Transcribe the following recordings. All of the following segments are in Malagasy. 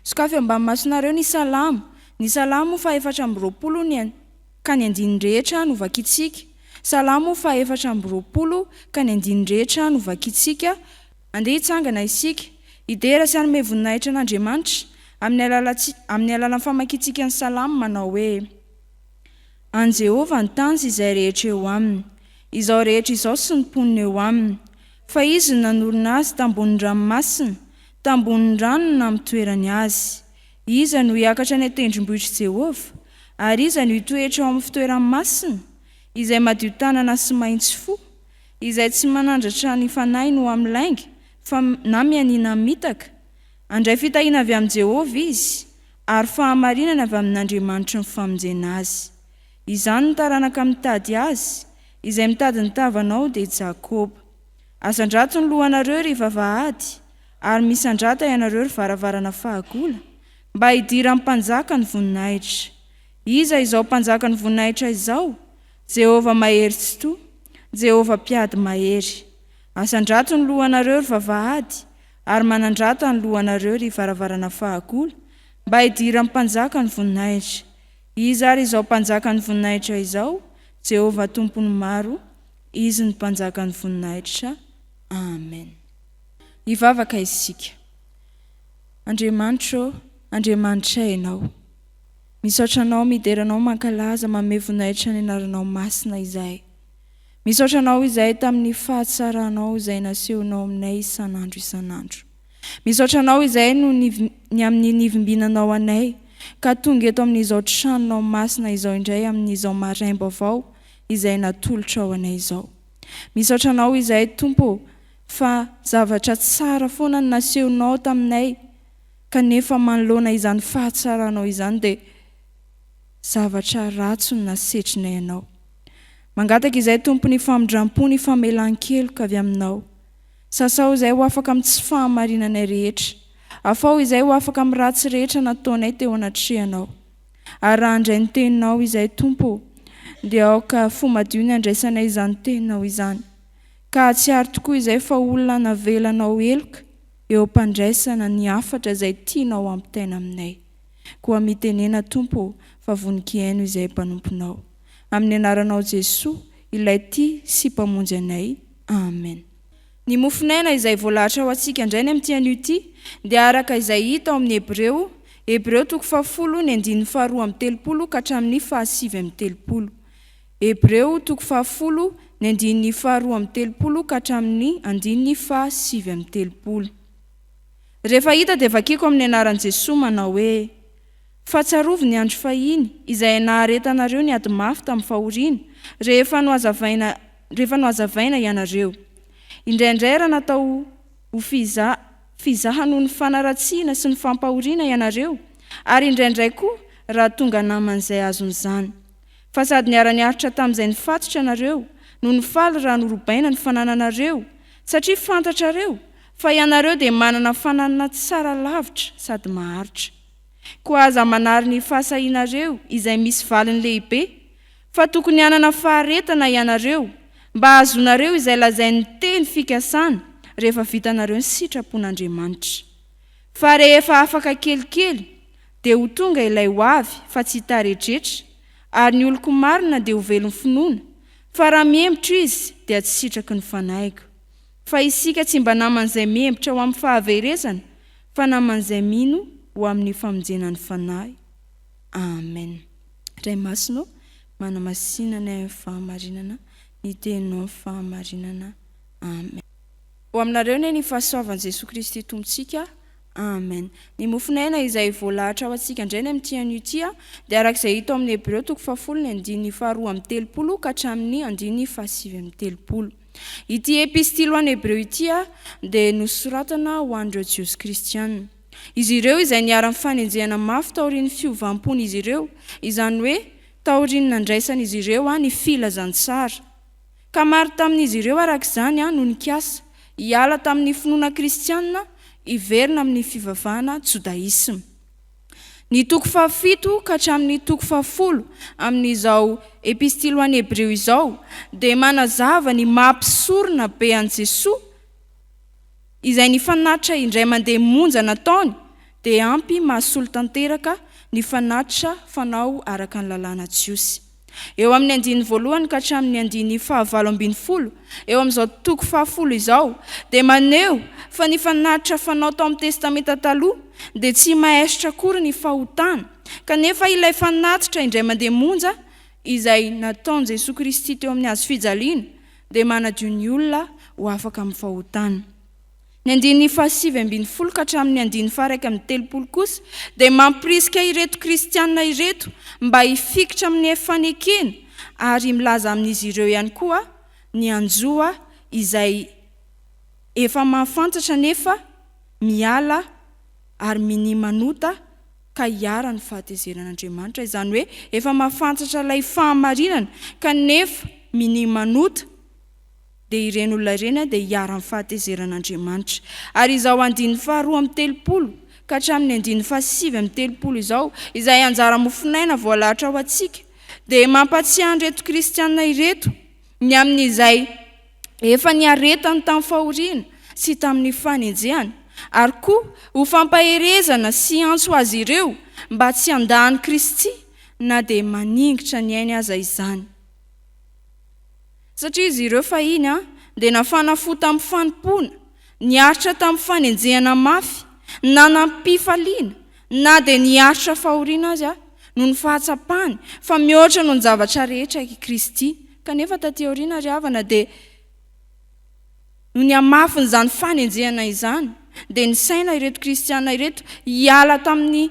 Sokafy ambany masonareo ny Salamo. Ny Salamo fahefatra amby roapolo ny an. Ka ny andininy rehetra no vakintsika. Salamo fahefatra amby roapolo ka ny andininy rehetra no vakintsika. Andeha hitsangana isika. Hidera sy hanome voninahitra an'Andriamanitra, amin'ny alalantsika, amin'ny alalan'ny famakintsika ny Salamo manao hoe. An'i Jehovah ny tany sy izay rehetra eo aminy, izao rehetra izao sy ny mponina eo aminy, fa izy no nanorina azy tambonin'ny ranomasina, tambonin'ny rano no namotoerany azy. Iza no hiakatra any an-tendrombohitr'i Jehovah? Ary iza no hitoetra ao amin'ny fitoerany masina? Izay madio tanana sy maintsy fo, izay tsy manandratra ny fanahiny ho amin'ny lainga, fa na mianiana mitaka. Handray fitahiana avy amin'i Jehovah izy. ary fahamarinana avy amin'Andriamanitry ny famonjena azy. Izany no taranaka mitady azy, izay mitady ny tavanao, dia Jakoba. Asandrato ny lohanareo, ry vavahady, ary misandrata ianareo, ry varavarana fahagola, mba hidiran'ny Mpanjaka ny voninahitra. Iza izao Mpanjaka ny voninahitra izao? Jehovah Mahery Tsitoha, Jehovah Mpiady Mahery. Asandrato ny lohanareo, ry vavahady, Ary manandrata ny lohanareo, ry varavarana fahagola, mba hidiran'ny Mpanjaka ny voninahitra. Iza ary izao Mpanjaka ny voninahitra izao? Jehovah Tompon'ny maro, Izy no Mpanjaka ny voninahitra. Amen. Hivavaka isika. Andriamanitro ô, Andriamanitra Ianao. Misaotra Anao, midera Anao, mankalaza, manome voninahitra ny Anaranao masina izahay. Misaotra anao izahay tamin'ny fahatsaranao izay nasehonao aminay isan'andro isan'andro. Misaotra anao izahay noho ny ny amin'ny nivimbinanao anay ka tonga eto amin'izao tranonao masina izao indray amin'izao maraim-baovao izay natolotrao anay izao. Misaotra anao izahay Tompo ô fa zavatra tsara foana no nasehonao taminay kanefa manoloana izany fahatsaranao izany dia zavatra ratsy no nasetrinay anao. Mangataka izay Tompo ny famindrampo ny famelan-keloka avy Aminao. Sasao izay ho afaka amin'ny tsy fahamarinanay rehetra. Afaho izay ho afaka amin'ny ratsy rehetra nataonay teo anatrehanao. Ary raha handray ny Teninao izay Tompo ô, dia aoka fo madio ny handraisanay izany Teninao izany. Ka hahatsiaro tokoa izay fa olona navelanao heloka eo am-pandraisana ny hafatra izay tianao hampitaina aminay. Koa mitenena Tompo ô, fa vononkihaino izay mpanomponao. Amin'ny anaranao Jesoa, Ilay tia sy Mpamonjy anay. Amen. Ny mofon'aina izay voalahatra ho antsika indray ny amin'ity anio ity dia araka izay hita ao amin'ny Hebreo, Hebreo toko fahafolo ny andininy faharoa amby telopolo ka hatramin'ny fahasivy amby telopolo. Hebreo toko fahafolo ny andininy faharoa amby telopolo ka hatramin'ny andininy fahasivy amby telopolo. Rehefa hita dia vakiko amin'ny anaran'i Jesoa manao hoe. Fa tsarovy ny andro fahiny, izay naharetanareo ny ady mafy tamin'ny fahoriana, rehefa nohazavaina, rehefa nohazavaina ianareo. Indraindray raha natao ho fiza, fizaha noho ny fanaratsiana sy ny fampahoriana ianareo, ary indraindray koa raha tonga naman'izay azon'izany. Fa sady niara-niaritra tamin'izay nifatotra ianareo, no nifaly raha norobaina ny fanananareo, satria fantatrareo Fa ianareo dia manana fananana tsara lavitra sady maharitra. Koa aza manary ny fahasahianareo izay misy valiny lehibe, fa tokony hanana faharetana ianareo mba hahazoanareo izay lazain'ny teny fikasana rehefa vitanareo ny sitrapon'Andriamanitra. Fa rehefa afaka kelikely, dia ho tonga ilay ho avy fa tsy taretretra, ary ny oloko marina dia ho velon'ny finoana, fa raha mihemotra izy dia tsy sitraky ny fanahiko. Fa isika tsy mba naman'izay mihembotra ho amin'ny fahaverezana, fa naman'izay mino ho amin'ny famonjena ny fanahy. Amen. Ray Masina ô, manamasina ny ahy amin'ny fahamarinana, ny Teninao amin'ny fahamarinana. Amen. Ho aminareo anie ny fahasoavan'i Jesoa Kristy Tompontsika. Amen. Ny mofon'aina izay voalahatra ho antsika indray ny amin'ity anio ity dia araka izay hita ao amin'ny Hebreo toko fahafolo ny andininy faharoa amby telopolo ka hatramin'ny andininy fahasivy amby telopolo. Ity Epistily ho an'ny Hebreo ity dia nosoratana ho an'ireo Jiosy kristiana. Izy ireo izay niara-nifanenjehana mafy taorian'ny fiovam-pon'izy ireo, izany hoe taorian'ny nandraisan'izy ireo ny Filazantsara. Ka maro tamin'izy ireo araka izany no nikasa hiala tamin'ny finoana kristiana hiverina amin'ny fivavahana jodaisma. Ny toko fahafito ka hatramin'ny toko fahafolo amin'izao Epistily ho an'ny Hebreo izao dia manazava ny maha mpisorona be an'i Jesoa, izay ny fanatitra indray mandeha monja nataony dia ampy mahasolo tanteraka ny fanatitra fanao araka ny lalàna jiosy. Eo amin'ny andiany voalohany ka hatramin'ny andiany fahavalo ambin'ny folo eo amin'izao toko fahafolo izao dia maneho fa ny fanatitra fanao tao amin'ny Testamenta Taloha dia tsy maesitra akory ny fahotana kanefa ilay fanatitra indray mandeha monja izay nataon'i Jesoa Kristy teo amin'ny hazofijaliana dia manadio ny olona ho afaka amin'ny fahotana. Ny andininy fahasivy ambin'ny folo ka hatramin'ny andininy faha-iraika amby telopolo kosa dia mampirisika ireto kristiana ireto mba hifikitra amin'ny fanekena ary milaza amin'izy ireo ihany koa ny hanjoa izay efa mahafantatra nefa miala ary minia manota ka hiharan'ny fahatezeran'Andriamanitra, izany hoe efa mahafantatra ilay fahamarinana kanefa minia manota. dia ireny olona ireny dia hiaro amin'ny fahatezeran'Andriamanitra. Ary izao andininy faharoa amby telopolo ka hatramin'ny andininy fahasivy amby telopolo izao, izay anjara mofonaina voalahatra ho antsika, dia mampatsiahy an'ireto kristiana ireto ny amin'izay efa niaretany tamin'ny fahoriana sy tamin'ny fanenjehana, ary koa ho fampaherezana sy antso ho azy ireo mba tsy handà an'i Kristy na dia maningitra ny ainy aza izany. Satria izy ireo fahiny dia nafana fo tamin'ny fanompoana, niaritra tamin'ny fanenjehana mafy, nanam-pifaliana, na dia niaritra fahoriana aza, noho ny fahatsapany fa mihoatra noho ny zavatra rehetra i Kristy. Kanefa tatỳ aoriana, ry havana, dia noho ny hamafin'izany fanenjehana izany, dia nisaina ireto Kristiana ireto hiala tamin'ny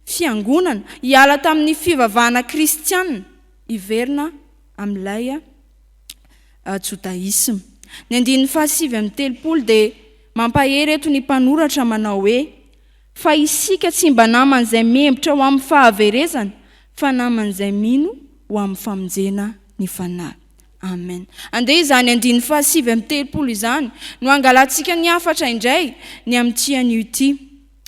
Fiangonana, hiala tamin'ny fivavahana kristiana, hiverina amin'ilay jodaisma. Ny andininy fahasivy amby telopolo dia mampahery eto ny mpanoratra manao hoe, Fa isika tsy mba naman'izay mihembotra ho amin'ny fahaverezana, fa naman'izay mino ho amin'ny famonjena ny fanahy. Amen. Andeha izany andininy fahasivy amby telopolo izany no hangalantsika ny hafatra indray ny amin'ity anio ity.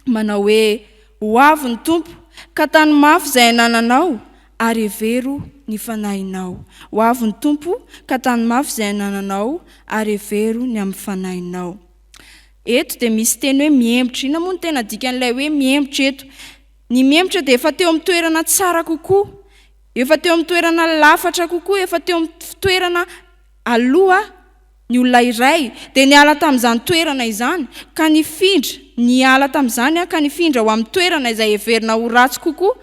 Manao hoe, Ho avy ny Tompo, ka tano mafy izay anananao, ary hevero ny fanahinao. Ho avy ny Tompo, ka tano mafy izay anananao, ary hevero ny amin'ny fanahinao. Eto dia misy teny hoe mihemotra. Inona moa no tena dikan'ilay hoe mihemotra eto? Ny mihemotra dia efa teo amin'ny toerana tsara kokoa, efa teo amin'ny toerana lafatra kokoa, efa teo amin'ny toerana Aloha, ny olona iray dia niala tamin'izany toerana izany ka nifindra, niala tamin'izany ka nifindra ho amin'ny toerana izay heverina ho ratsy kokoa,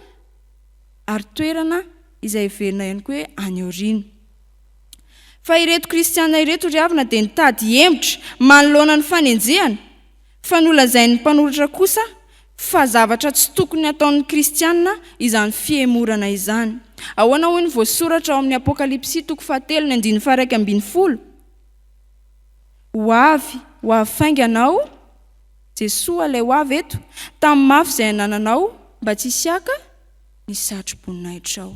ary toerana izay heverina ihany koa hoe any aoriana. Fa ireto Kristiana ireto ry havana dia nitady hemotra manoloana ny fanenjehana, Fa nolazain'ny mpanoratra kosa fa zavatra tsy tokony hataon'ny kristiana izany fihemorana izany. Ahoana hoy ny voasoratra ao amin'ny Apokalypsy toko fahatelo ny andininy faha-iraika ambin'ny folo? Ho avy, ho avy faingana aho, Jesoa ilay ho avy eto, tamin'ny mafy izay anananao mba tsy hisy haka ny satroboninahitranao.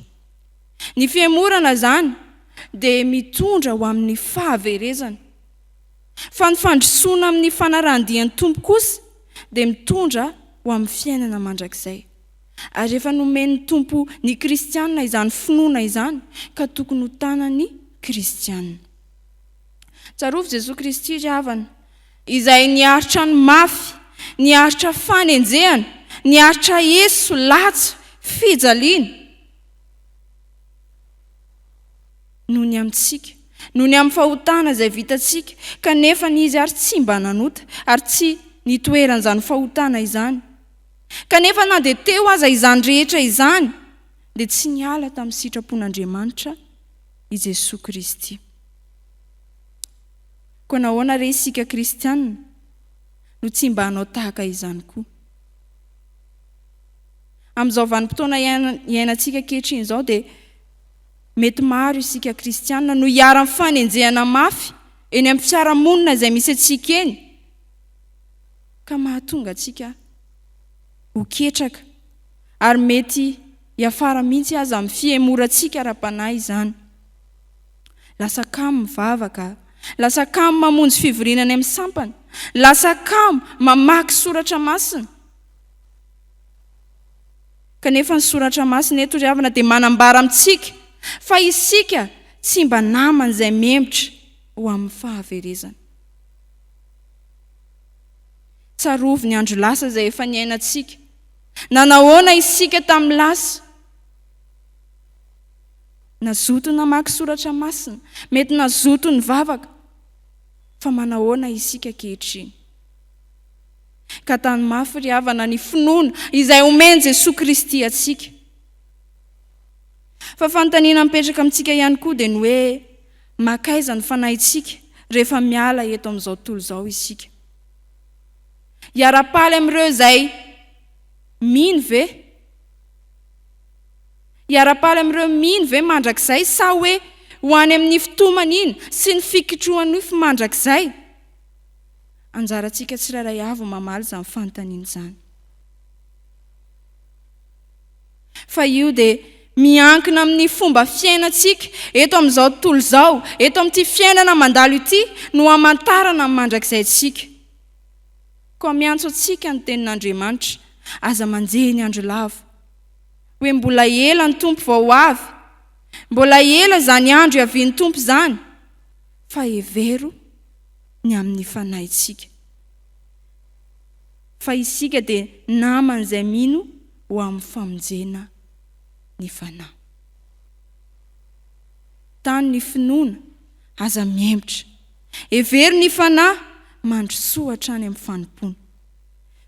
Ny fihemorana izany dia mitondra ho amin'ny fahaverezana. Fa ny fandrosoana amin'ny fanarahan-dian'ny Tompo kosa dia mitondra ho amin'ny fiainana mandrakizay. Ary efa nomen'ny Tompo ny kristiana izany finoana izany ka tokony ho tanan'ny kristiana. Tsarovy Jesoa Kristy ry havana, izay niaritra ny mafy, niaritra fanenjehana, niaritra eso, latsa, fijaliana. noho ny amintsika, noho ny amin'ny fahotana izay vitantsika, kanefa n'izy ary tsy mba nanota ary tsy nitoeran'izany fahotana izany. Kanefa na dia teo aza izany rehetra izany, dia tsy niala tamin'ny sitrapon'Andriamanitra i Jesoa Kristy. Koa nahoana re isika kristiana no tsy mba hanao tahaka izany koa? Amin'izao vanim-potoana iainantsika ankehitriny izao dia Mety maro isika kristiana no iharan'ny fanenjehana mafy eny amin'ny fiarahamonina izay misy antsika eny, ka mahatonga antsika ho ketraka, ary mety hiafara mihitsy aza amin'ny fihemorantsika ara-panahy izany. Lasa kamo mivavaka, lasa kamo mamonjy fivoriana any amin'ny sampana, lasa kamo mamaky soratra masina. Kanefa ny Soratra Masina eto ry havana dia manambara amintsika fa isika tsy mba namany izay mihemotra ho amin'ny fahaverezana. Tsarovy ny andro lasa izay efa niainantsika. Nanahoana isika tamin'ny lasa? Nazoto namaky Soratra Masina, mety nazoto nivavaka, fa manahoana isika ankehitriny? Ka tano mafy ry havana ny finoana izay omen'i Jesoa Kristy antsika. Fa fanontaniana mipetraka amintsika ihany koa dia ny hoe mankaiza ny fanahintsika rehefa miala eto amin'izao tontolo izao isika? Hiara-paly amin'ireo izay mino ve? Hiara-paly amin'ireo mino ve mandrakizay sa hoe ho any amin'ny fitomany iny sy ny fikitrohan'ny nofo mandrakizay? Anjarantsika tsirairay avy ny mamaly izany fanontaniana izany. Fa io dia miankina amin'ny fomba fiainantsika eto amin'izao tontolo izao, eto amin'ity fiainana mandalo ity no hamantarana ny mandrakizay antsika. Koa miantso antsika ny tenin'Andriamanitra, aza manjehy ny andro lavo. Hoe mbola ela ny Tompo vao ho avy. Mbola ela izany andro hiavian'ny Tompo izany. Fa hevero ny amin'ny fanahintsika, fa isika dia naman'izay mino ho amin'ny famonjena ny fanahy. Tano ny finoana, aza mihemotra. Hevero ny fanahy, mandrosoa hatrany amin'ny fanompoana.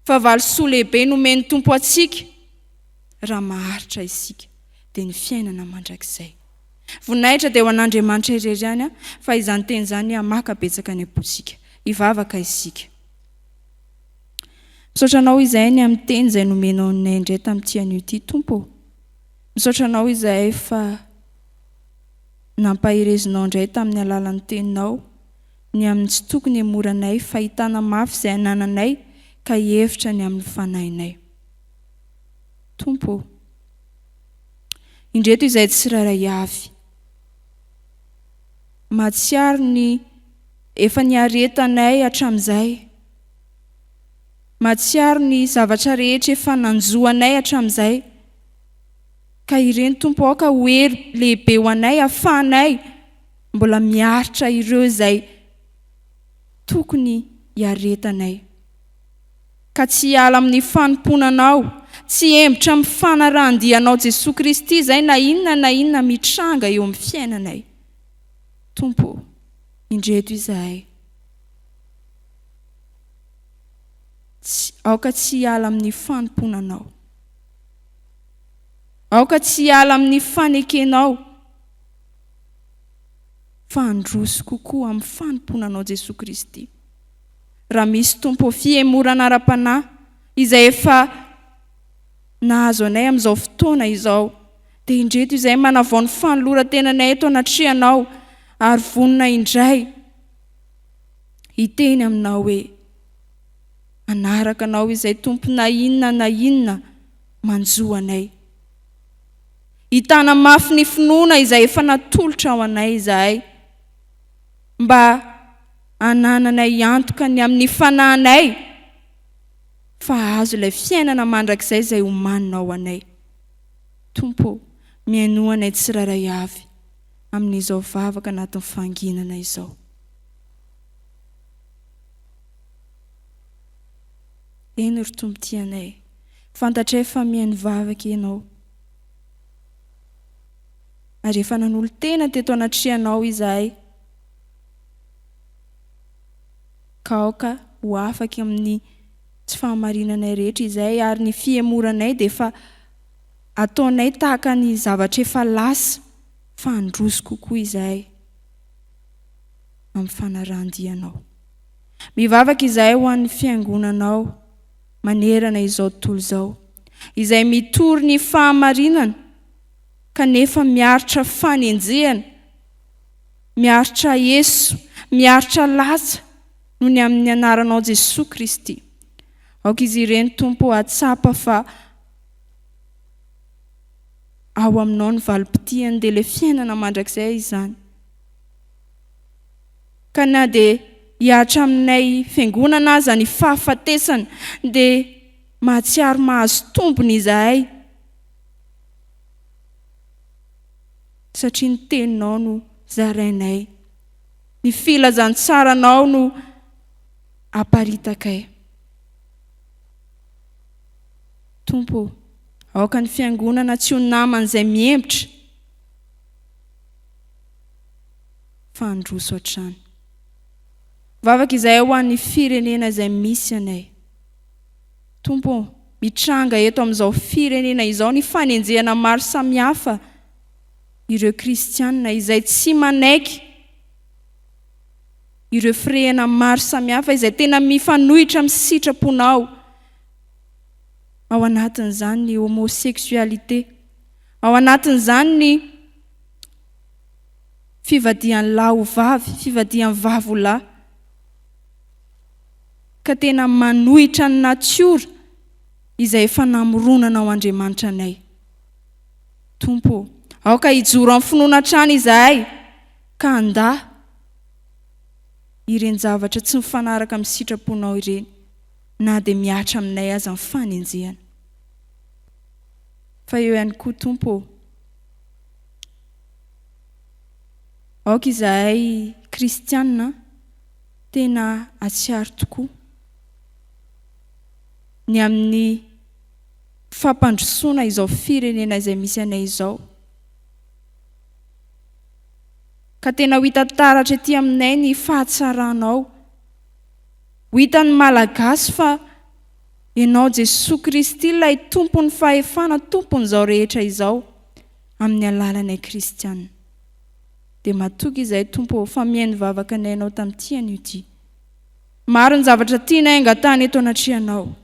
Fa valisoa lehibe nomen'ny Tompo antsika, raha maharitra isika, dia ny fiainana mandrakizay. Voninahitra dia ho an'Andriamanitra irery ihany fa izany teny izany hamaka betsaka ny am-pontsika. Hivavaka isika. Misaotra anao izahay ny amin'ny teny izay nomenao anay indray tamin'ity anio ity, Tompo. Misaotra anao izahay fa nampaherezinao indray tamin'ny alalan'ny teninao ny amin'ny tsy tokony hemoranay, fahitana mafy izay anananay ka hihevitra ny amin'ny fanahinay. Tompo. Indreto izay tsirairay avy. Mahatsiaro ny efa niaretanay hatramin'izay. Mahatsiaro ny zavatra rehetra efa nanjo anay hatramin'izay. Ka ireny Tompo aoka ho hery lehibe ho anay afahanay mbola miaritra ireo izay tokony hiaretanay. ka tsy hiala amin'ny fanompoana Anao, tsy hihembotra amin'ny fanarahan-dia Anao Jesoa Kristy izay na inona na inona mitranga eo amin'ny fiainanay. Tompo ô, indreto izahay. Tsy, aoka tsy hiala amin'ny fanompoana Anao. Aoka tsy hiala amin'ny fanekenao fa handroso kokoa amin'ny fanompoana Anao Jesoa Kristy. raha misy tompo fihemorana ara-panahy izay efa nahazo anay amin'izao fotoana izao dia indreto izay manavao ny fanoloran-tenanay eto anatrehanao ary vonona indray hiteny aminao hoe manaraka anao izay tompo na inona na inona manjo anay hitana mafy ny finoana izay efa natolotra ho anay izahay mba hanananay antoka ny amin'ny fanahinay fa hahazo ilay fiainana mandrakizay izay omaninao ho anay. Tompo ô, mihainoa anay tsirairay avy amin'izao vavaka anatin'ny fanginana izao. Eny, ry Tompo tianay, fantatray fa mihaino vavaka Ianao. ary efa nanolo-tena teto anatrehanao izahay, ka aoka ho afaka amin'ny tsy fahamarinanay rehetra izay, ary ny fihemoranay dia efa ataonay tahaka ny zavatra efa lasa, fa handroso kokoa izahay amin'ny fanarahan-dianao. Mivavaka izahay ho an'ny Fiangonanao manerana izao tontolo izao, izay mitory ny fahamarinana, kanefa miaritra fanenjehana, miaritra eso, miaritra latsa noho ny amin'ny anaranao Jesoa Kristy. Aoka izy ireny Tompo hahatsapa fa ao aminao ny valim-potiany dia ilay fiainana mandrakizay izany. Ka na dia hiaritra aminay fiangonana aza ny fahafatesana dia mahatsiaro mahazo tombony izahay Satria ny teninao no zarainay. Ny filazantsaranao no aparitakay. Tompo ô, aoka ny fiangonana tsy ho naman'izay mihemotra, fa handroso hatrany. Vavaka izahay ho an'ny firenena izay misy anay. Tompo ô, mitranga eto amin'izao firenena izao ny fanenjehana maro samihafa ireo kristiana izay tsy manaiky ireo firehana maro samihafa izay tena mifanohitra amin'ny sitraponao, ao anatin'izany ny homosexualité, ao anatin'izany ny fivadihan'ny lahy ho vavy, fivadihan'ny vavy ho lahy. ka tena manohitra ny natiora izay efa namoronanao Andriamanitra anay. Tompo ô, aoka hijoro amin'ny finoana hatrany izahay ka handà ireny zavatra tsy mifanaraka amin'ny sitraponao ireny na dia mihatra aminay aza ny fanenjehana. Fa eo ihany koa Tompo ô, aoka izahay kristiana, Tena hatsiaro tokoa ny amin'ny fampandrosoana izao firenena izay misy anay izao, ka tena ho hita taratra ety aminay ny fahatsaranao. Ho hitan'ny Malagasy fa Ianao Jesoa Kristy ilay Tompon'ny fahefana, Tompon'izao rehetra izao, amin'ny alalanay Kristiana. Dia matoky izay Tompo ô, fa mihaino vavaka ny ainao tamin'ity anio ity. Maro ny zavatra tianay angatahana eto anatrehanao,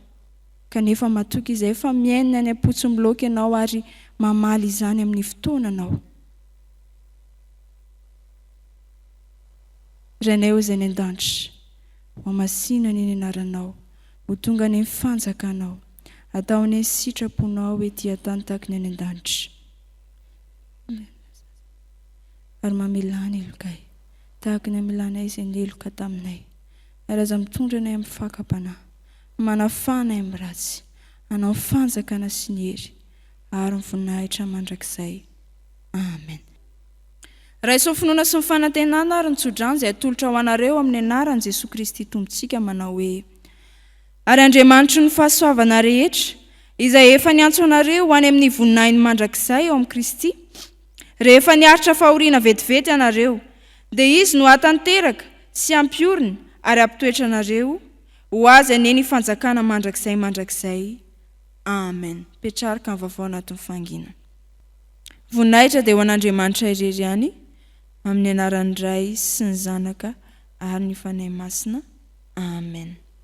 kanefa matoky izay fa mihaino ny any am-potsim-bilaoka ianao ary mamaly izany amin'ny fotoana anao. Rainay ô izay any an-danitra, ho hamasina anie ny anaranao, ho tonga anie ny fanjakanao, atao anie ny sitraponao ety an-tany taky ny any an-danitra. ary mamelà ny helokay, tahaka ny amelanay izay niheloka taminay, ary aza mitondra anay amin'ny fakam-panahy, manafaha anay amin'ny ratsy, anao ny fanjakana sy ny hery ary ny voninahitra mandrakizay. Amen. Raiso ny finoana sy ny fanantenana ary ny tso-drano izay atolotra ho anareo amin'ny anaran'i Jesoa Kristy Tompontsika manao hoe. Ary Andriamanitry ny fahasoavana rehetra, izay efa niantso anareo ho any amin'ny voninahiny mandrakizay ao amin'i Kristy, rehefa niaritra fahoriana vetivety ianareo, dia Izy no hahatanteraka sy hampiorina ary hampitoetra anareo, ho Azy anie ny fanjakana mandrakizay mandrakizay. Amen. Petrarca ny Vaovao Anatin'ny Fahanginana. Voninahitra dia ho an'Andriamanitra irery ihany, amin'ny anaran'ny Ray sy ny Zanaka ary ny Fanahy Masina. Amen.